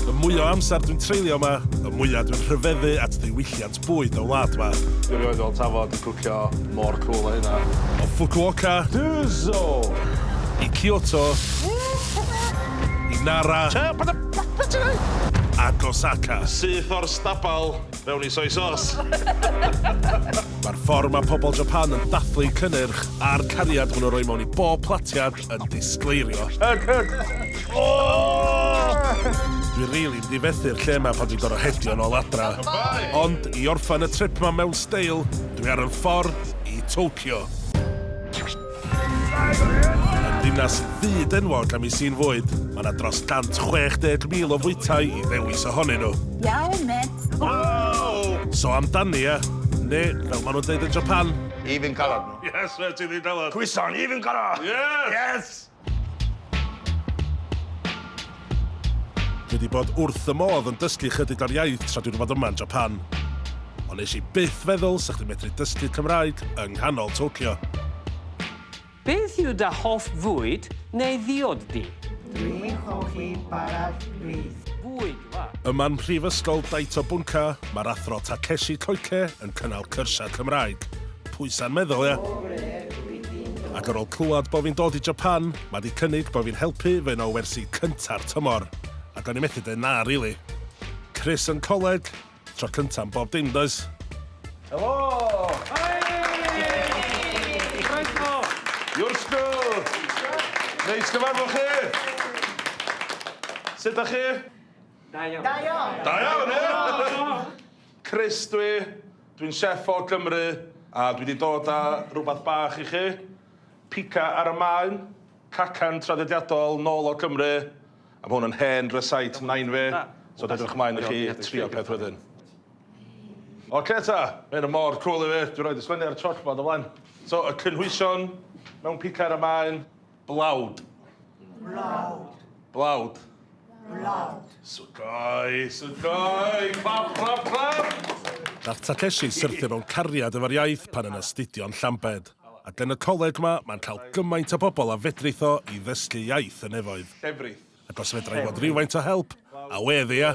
Y mwy o amser dwi'n treulio yma, y mwyaf dwi'n rhyfeddu at ddiwylliant bwyd y wlad yma. Dwi rioed fel tafod i cwcio mor cwl a hynna. O Fukuoka. Duzo! I Kyoto. I Nara. Ac Osaka. Syth o'r stabal mewn i soy sos. Mae'r ffordd mae pobl Japan yn dathlu cynnyrch a'r cariad maen nhw'n rhoi mewn i bob platiad yn disgleirio. Hug, hug! Oh! Dwi rili really difethu'r lle yma pan dwi'n gorau hedio yn ôl adra. Ond i orffan y trip yma mewn steil, dwi ar y ffordd i Tokyo. Yn ddinas fyd enwog am ei sy'n fwyd, mae yna dros 160,000 o fwytau i ddewis ohonyn nhw. Iawn, met! Wow! So amdani, e? Neu, fel maen nhw'n dweud yn Japan, Even colored. Yes, fe ti ddi'n dalad. Cwyson, even goro! Yes! Yes! Dwi wedi bod wrth y modd yn dysgu chydig o'r iaith tra dwi'n fod yma yn Japan. Ond nes i byth feddwl sa chdi'n medru dysgu Cymraeg yng nghanol Tokyo. Beth yw dy hoff fwyd neu ddiod di? Dwi'n hoffi bara brith. Bwyd. Yma'n Mhrifysgol Daito Bunka, mae'r Athro Takeshi Koike yn cynnal cyrsiau Cymraeg. Pwysa'n meddwl, ia? Ac ar ôl clywed bo fi'n dod i Japan, ma di cynnig bo fi'n helpu fy un o wersi cynta'r tymor. Ac o'n i methu deud na rili. Chris yn coleg, Tro cynta am bob dim, does? Helo! Hei! Croeso! Iwrsgo! Neis gyfarfod chi! Sut da chi? Da iawn. Da iawn! Da iawn, ie? Chris dwi, dwi'n chef o Gymru, a dwi wedi dod â rhywbeth bach i chi. Pica ar y Maen, cacan traddodiadol nôl o Gymru. A ma hwn yn hen rysáit nain fi, so dwi edrych mlaen i chi trio peth wedyn. Ocê ta, ma hyn yn mor cwl i fi, dwi roid y sgwennu ar y chalkboard o flaen. So y cynhwysion mewn picar a maen blawd. Blawd. Blawd. Blawd. Sugoi, sugoi, clap, clap, clap! Nath Takeshi syrthio mewn cariad efo'r iaith pan yn astudio'n Llambed. Ac yn y coleg 'ma, mae'n cael gymaint o bobl a fedrith o i ddysgu iaith y nefoedd. Llefrith. Ac os fedra i fod rywfaint o help, a wedd ia!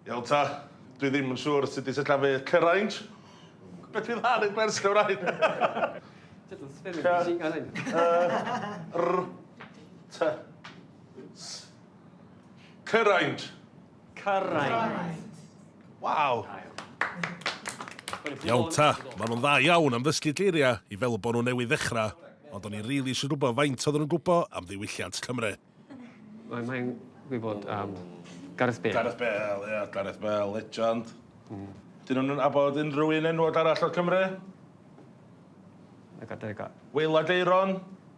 Iawn ta, dwi ddim yn siŵr sut i sillafu cyrainj. Beth fydd ar y gwers Cymraeg? Cy-y-r-t-s. Cyrainj. Cyraint. Waw! Iawn ta, maen nhw'n dda iawn am ddysgu geiriau i fel bod nhw newydd ddechrau, ond o'n i rili eisiau gwybod faint oedden nhw'n gwybod am ddiwylliant Cymru. Mae mae'n gwybod am Gareth Bale. Gareth Bale, ie, Gareth Bale, legend. Dyn nhw'n abod unrhyw un enwog arall o Cymru? Like Adega. Waylaid Aeron?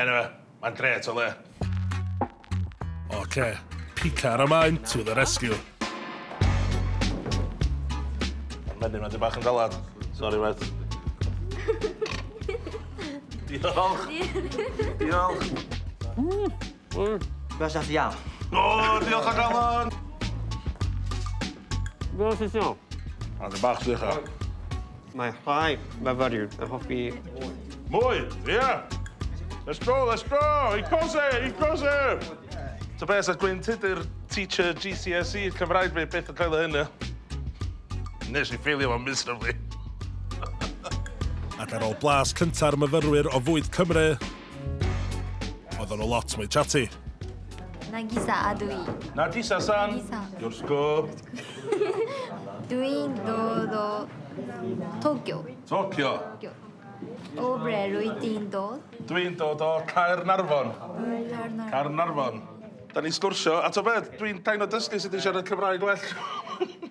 Eniwe, mae'n grêt o le. Ocê, pica ar y maen to the rescue. Ma'r menyn ma di bach yn galad. Sori met. Diolch. Diolch. Mmm. Fel sa ti iawn? O, diolch o galon. Fel sa ti iawn? Ond y bach sych o. Mae rhai myfyriwr yn hoffi... Mwy! Ie! Let's go, let's go! I cose, i cose! Ta beth, sa Gwyn Tudur, teacher GCSE Cymraeg fi, byth yn coelio hyn, ie? Nes i ffeilio fo miserably. Ac ar ôl blas cynta'r myfyrwyr o fwyd Cymru, Oedden nhw lot mwy chatty. Nagisa a dwi. Nagisa-san. Nagisa. Yoshiko. Dwi'n dod o Tokyo. Tokyo. O bre rwyt ti'n dod? Dwi'n dod o Caernarfon. Caernarfon. Caernarfon. Da ni'n sgwrsio, a to beth, dwi'n kind o dysgu sut i siarad Cymraeg well.